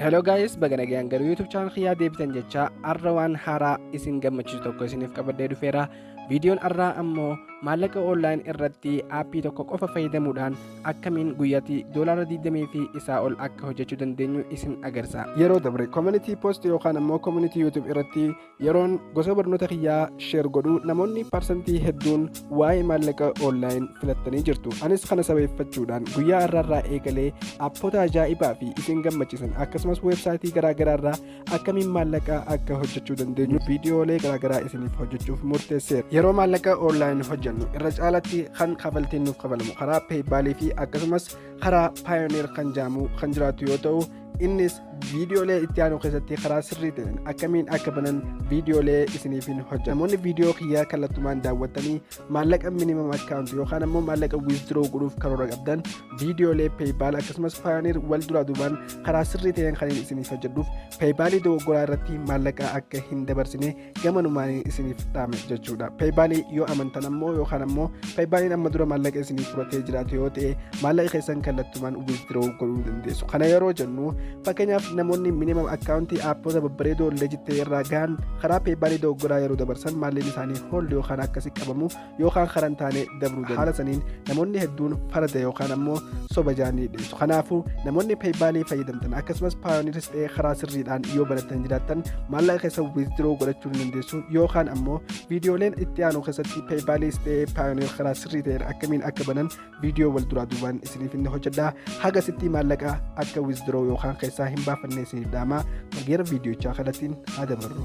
Hello guys, baga nagaan gara YouTube channel kiyyaa deebitan jechaa arra waan haaraa isin gammachiisu tokko isiniif qabadhee dhufeera. Viidiyoon arraa ammoo maallaqa online irratti aappii tokko qofa fayyadamuudhaan akkamiin guyyatti doolaara 20 fi isaa ol akka hojjechuu dandeenyu isin agarsiisa. Yeroo dabre community post yookaan ammoo community YouTube irratti Yeroon gosa barnoota kiyyaa sheer godhu namoonni parsantii hedduun waa'ee maallaqa online filattanii jirtu. Anis kana sabeeffachuudhaan guyyaa irraarraa eegalee appota ajaa'ibaa fi isin gammachiisan akkasumas weebsaayitii garaagaraarraa akkamiin maallaqa akka hojjechuu dandeenyu viidiyoolee garaagaraa isiniif hojjechuuf murteesseera. Yeroo maallaqa online hojjennu irra caalatti kan kafaltiin nuuf kafalamu karaa peeybaalii fi akkasumas karaa paayoneer kan jedhamu kan jiraatu yoo ta'u innis viidiyoolee itti aanu keessatti karaa sirrii ta'een akkamiin akka banan viidiyoolee isiniifin hojja namoonni viidiyoo kiyyaa kallattumaan daawwattanii maallaqa minimum account yookaan ammoo maallaqa withdraw godhuuf karoora qabdan viidiyoolee paypal akkasumas payoneer wal duraa duubaan karaa sirrii ta'een kan isiniif hojjedhuuf paypalii dogoggoraa irratti maallaqa akka hin dabarsine gamanumaan isiniif dhaame jechuudha peeybaalii yoo amantan ammoo yookaan ammoo peeybaaliin amma dura maallaqa isiniif fudhatee jiraate yoo ta'e maallaqa keessan kallattumaan withdraw godhuu dandeessu kana yeroo jennu fakkeenyaaf namoonni minimum akkaawuntii aappoota babbareedoo leejittee irraa gahan karaa peeybaalii dogoggoraa yeroo dabarsan maallaqa isaanii hooldi yookaan akkasi qabamu yookaan karaa hin taane dabruu danda'a. Haala saniin namoonni hedduun farada yookaan ammoo soba jaanii dhiyeessu. Kanaafuu namoonni peeybaalii fayyadamtan akkasumas paayoniris ta'ee karaa sirriidhaan yoo barattan jiraattan maallaqa keessa wiizdroo godhachuu ni dandeessu yookaan ammoo viidiyooleen itti aanu keessatti peeybaalii ta'ee paayoniir karaa sirrii ta'een akkamiin akka banan viidiyoo wal duraa duubaan isiniif inni hojjedha haga sitti maallaqa akka wizdiroo yookaan keessaa hin baafanne isiniif dhaamaa gara viidiyochaa kanattiin haa dabarru.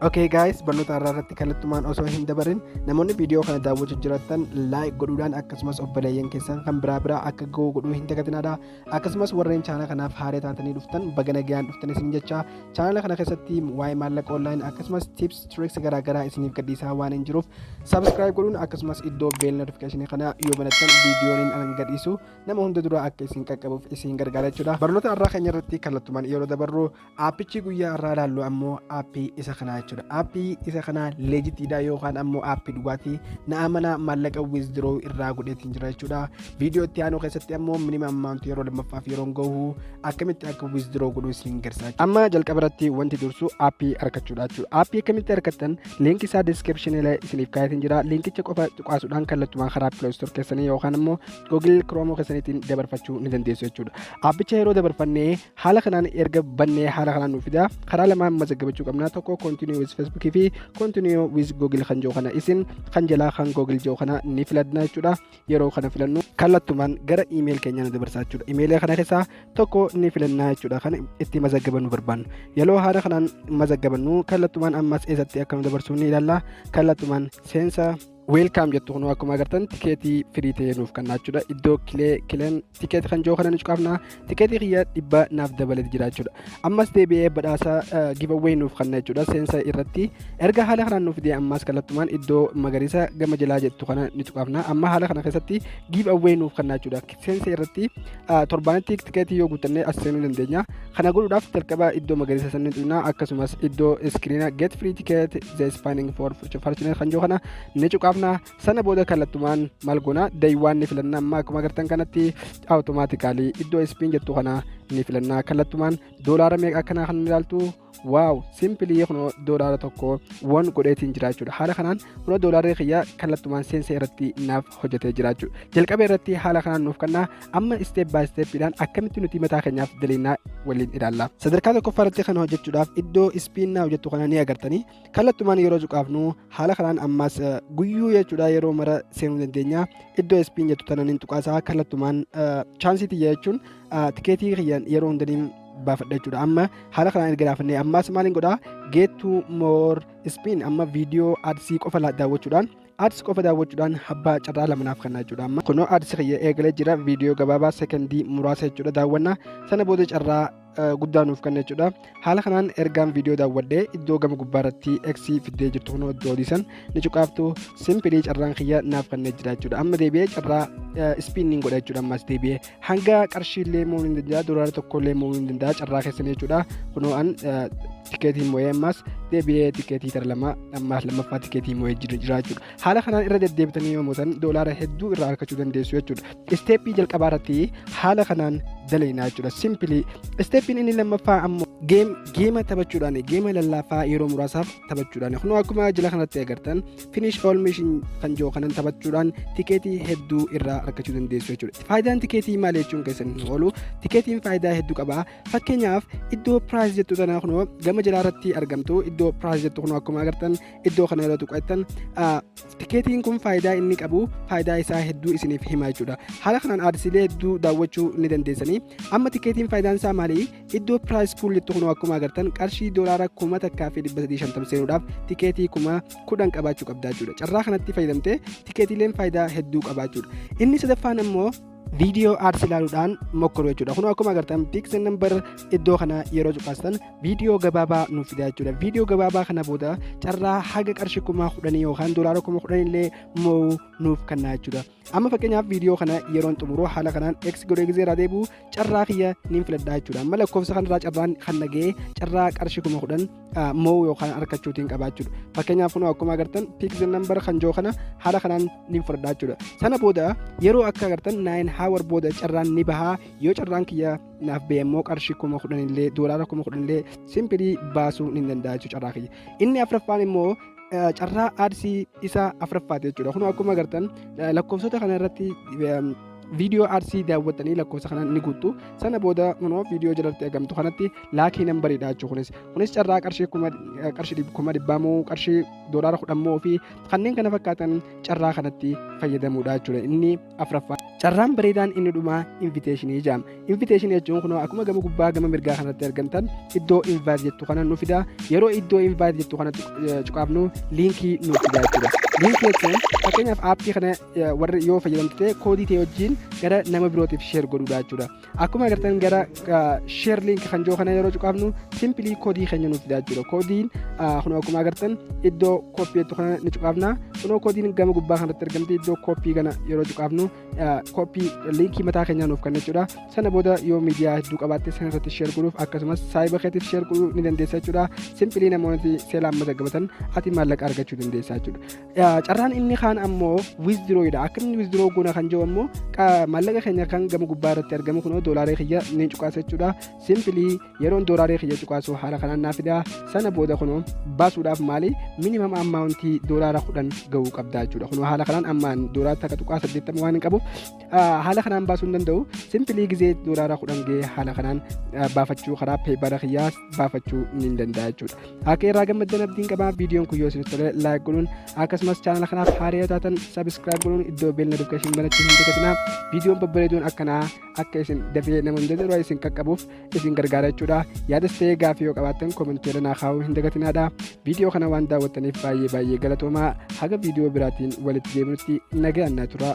Okay guys barnoota har'aa irratti kallattumaan osoo hin dabarin namoonni viidiyoo kana daawwachaa jirtan like godhuudhaan akkasumas obboleeyyan keessan kan biraa biraa akka ga'u godhuu hin dagatinaadha akkasumas warreen chaanala kanaaf haaree taatanii dhuftan baga nagayaan dhuftan isin jecha chaanala kana keessatti waa'ee maallaqa online akkasumas tips tricks garaagaraa isiniif gadhiisaa waan hin jiruuf subscribe godhuun akkasumas iddoo bell notification kana yoo banattan viidiyooniin anan gadhiisu nama hunda dura akka isin qaqqabuuf isin gargaara jechuudha barnoota irraa keenya irratti kallattumaan yeroo dabarru Aappichi guyyaa irraa ilaallu ammoo aappii isa kanaa jechuudha. Aappii isa kanaa leejitiidha yookaan ammoo aappii dhugaati. Na amana maallaqa wizdiroo irraa godheetiin jira jechuudha. Viidiyoo itti aanu keessatti ammoo minimum amount yeroo lammaffaaf yeroon gahu akkamitti akka wizdiroo godhu isin gargaara. Amma jalqaba irratti wanti dursu aappii argachuudha jechuudha. Aappii akkamitti argattan liinki isaa description illee isiniif kaa'eetiin jira. Liinkicha qofa cuqaasuudhaan kallattumaan karaa Play Store keessanii yookaan ammoo Google Chrome keessaniitiin dabarfachuu ni dandeessu jechuudha. Aappicha yeroo dabarfannee haala kanaan erga bannee haala kanaan nuuf fidaa karaa lamaan mazaggabachuu qabna tokko continue with facebook fi continue with google kan jiru kana isin kan jalaa kan google jiru kana ni filadna jechuudha yeroo kana filannu kallattumaan gara email keenya nu dabarsaa jechuudha email kana keessaa tokko ni filannaa jechuudha kan itti mazaggabannu barbaannu yeroo haala kanaan mazaggabannu kallattumaan ammas eessatti akka nu dabarsu ni ilaalla kallattumaan seensa weelkaam jettu kunoo akkuma agartan tikeetii firii ta'ee nuuf kan naachuudha iddoo kilee kileen tikeetii kan jiru kana ni cuqaafna tikeetii kiyya dhibba naaf dabalee jiraachuudha ammas deebi'ee badhaasa gibawwee nuuf kan naachuudha seensa irratti erga haala kanaan nuuf fidee ammas kallattumaan iddoo magariisa gama jalaa jettu kana ni cuqaafna amma haala kana keessatti gibawwee nuuf kan naachuudha seensa irratti torbaanitti tikeetii yoo guuttannee as seenuu dandeenya. Kana godhuudhaaf jalqaba iddoo magariisa sanni tuqna akkasumas iddoo iskiriina get free ticket the spanning for future fortunate kan jiru kana ni cuqaafna. Sana booda kallattumaan maal goona dayiiwwaan ni filanna amma akkuma agartan kanatti awutomaatikaalii iddoo ispiin jettu kana ni filanna kallattumaan doolaara meeqa akkanaa kan ilaaltu waaw simpilii kunoo doolaara tokko wan godheetiin jiraachuudha haala kanaan kunoo doolaarri kiyya kallattumaan seensa irratti naaf hojjetee jiraachuu jalqaba irratti haala kanaan nuuf kennaa amma isteep baay isteeppiidhaan akkamitti nuti mataa keenyaaf daliinaa waliin ilaalla sadarkaa tokkoffaa irratti kana hojjechuudhaaf iddoo ispiinnaa hojjettu kana ni agartanii kallattumaan yeroo cuqaafnu haala kanaan ammaas guyyuu jechuudha yeroo mara seenuu dandeenya iddoo ispiin jettu tanan hin tuqaasaa kallattumaan chaansii tiyya jechuun tikeetii kiyyan yeroo hundaniin baafadha jechuudha amma haala kanaan erga laafannee ammaas maaliin godhaa geettuu moor ispiin amma viidiyoo adsii qofa daawwachuudhaan Ads qofa daawwachuudhaan abbaa carraa lama naaf kennaa jechuudha amma kunoo ads kiyya eegalee jira viidiyoo gabaabaa sekondii muraasa jechuudha daawwanna sana booda carraa guddaa nuuf kenna jechuudha haala kanaan ergaan viidiyoo daawwadhee iddoo gama gubbaa irratti eksii fiddee jirtu kunoo iddoo odiisan ni cuqaaftu simpilii carraan kiyya naaf kennee jira jechuudha amma deebi'ee carraa ispiinniin godha jechuudha ammas deebi'ee hanga qarshiillee mo'uu ni danda'a doolaara tokkollee mo'uu ni danda'a carraa keessan jechuudha kunoo an tikeetii mo'ee ammas deebi'ee tikeetii tara lama ammaas lammaffaa tikeetii mo'ee jira jechuudha haala kanaan irra deddeebitanii yoo mo'atan doolaara hedduu irraa argachuu dandeessu jechuudha isteeppii jalqabaa irratti haala kanaan dalaynaa jechuudha simpilii isteeppiin inni lammaffaa ammoo geema taphachuudhaan geema lallaafaa yeroo muraasaaf taphachuudhaan kunoo akkuma jila kanatti agartan finish all mission kan jiru kanan taphachuudhaan tikeetii hedduu irraa argachuu dandeessu jechuudha. Faayidaan tikeetii maal jechuun keessan hin oolu tikeetiin faayidaa hedduu qaba. Fakkeenyaaf iddoo piraayis jettu tanaa kunoo gama jalaa irratti argamtu iddoo piraayis jettu kunoo akkuma agartan iddoo kana irratti qo'attan tikeetiin kun faayidaa inni qabu faayidaa isaa hedduu isiniif hima jechuudha. Haala kanaan aadsiilee hedduu daawwachuu ni dandeessanii. Amma tikeetiin faayidaan isaa maali? iddoo piraayis puullitti kunoo akkuma agartan qarshii doolaara kuma takkaa fi dhibba sadii shantam seenuudhaaf tikeetii kuma kudhan qabaachuu qabdaa jechuudha carraa kanatti fayyadamtee tikeetiileen faayidaa hedduu qabaachuudha inni sadaffaan immoo viidiyoo aarsi ilaaluudhaan mokkoru jechuudha kun akkuma agartan piiksen nambar iddoo kana yeroo cuqaastan viidiyoo gabaabaa nuuf fidaa jechuudha viidiyoo gabaabaa kana booda carraa haga qarshii kuma kudhanii yookaan doolaara kuma kudhan illee mo'uu nuuf kennaa jechuudha amma fakkeenyaaf viidiyoo kana yeroon xumuruu haala kanaan x godhee gizee irraa deebi'u carraa kiyya niin filadhaa jechuudha amma lakkoofsa kanarraa carraan kan naga'ee carraa qarshii kuma kudhan moo yookaan arkachuutiin qabaa jechuudha fakkeenyaaf kunoo akkuma agartan piikzil nambar kan joo kana haala kanaan niin fudhadhaa jechuudha sana booda yeroo akka agartan naayin haawar booda carraan ni bahaa yoo carraan kiyya naaf ba'e immoo qarshii kuma kudhan illee doolaara kuma kudhan illee simpilii baasuu ni danda'a jechuudha carraa kiyya inni afraffaan immoo carraa aadsii isa afraffaati jechuudha kun akkuma agartan lakkoofsota kana irratti viidiyoo aadsii daawwattanii lakkoofsa kana ni guuttu sana booda kunoo viidiyoo jalatti argamtu kanatti laakii nambariidha jechuu kunis kunis carraa qarshii kuma qarshii kuma dhibbaa moo qarshii doolaara kudhan moo fi kanneen kana fakkaatan carraa kanatti fayyadamuudha jechuudha inni afraffaa carraan bareedaan inni dhumaa inviteeshinii jaama inviteeshinii jechuun kunoo akkuma gama gubbaa gama mirgaa kanatti argamtan iddoo invaayit jettu kana nu fida yeroo iddoo invaayit jettu kana cuqaafnu liinkii nu fida jechuudha liinkii jechuun fakkeenyaaf aappii kana warri yoo fayyadamtu ta'e koodii ta'e wajjin gara nama birootiif sheer godhuudha jechuudha Akkuma agartan gara share link kan jiru kana yeroo cuqaafnu simply koodii keenya nuuf fidaa jira. Koodiin kun akkuma agartan iddoo koppii jettu kana ni cuqaafna. Kunoo koodiin gama gubbaa kanatti argamti iddoo koppii kana yeroo cuqaafnu koppii linkii mataa keenyaa nuuf kenna jechuudha. Sana booda yoo miidiyaa hedduu qabaatte sana irratti share godhuuf akkasumas saayiba keetiif share godhuu ni dandeessa jechuudha. Simply namoonni seelaan mazagabatan ati maallaqa argachuu dandeessa jechuudha. carraan inni kaan ammoo withdraw dha akka inni withdraw goona kan jiru ammoo maallaqa keenya kan gama gubbaa irratti argamu kunoo doolaaree kiyya ni cuqaasa jechuudha simpili yeroon doolaaree kiyya cuqaasu haala kanaan naa fida sana booda kunoo baasuudhaaf maali minimam ammaawuntii doolaara kudhan ga'uu qabda jechuudha kunoo haala kanaan ammaan doolaara takka tuqaa saddeettama waan hin qabuuf haala kanaan baasuu hin danda'u simpili gizee doolaara kudhan ga'ee haala kanaan baafachuu karaa peebara kiyyaa baafachuu ni danda'a jechuudha. Akka irraa gammaddan abdiin qaba viidiyoon kun yoo isin tole laayik godhuun akkasumas chaanala kanaaf haaraa yoo taatan sabiskiraayib godhuun iddoo beela notifikashinii banachuu hin dagatinaa viidiyoon babbareeduun akkanaa akka isin dafee nama hin jedhu isin qaqqabuuf isin gargaara jechuudha. Yaadas ta'ee gaaffii yoo qabaattan komentii irra naa kaa'uu hin dagatinaadha. Viidiyoo kana waan daawwattaniif baay'ee baay'ee galatoomaa haga viidiyoo biraatiin walitti deebinutti nagaan naa turaa.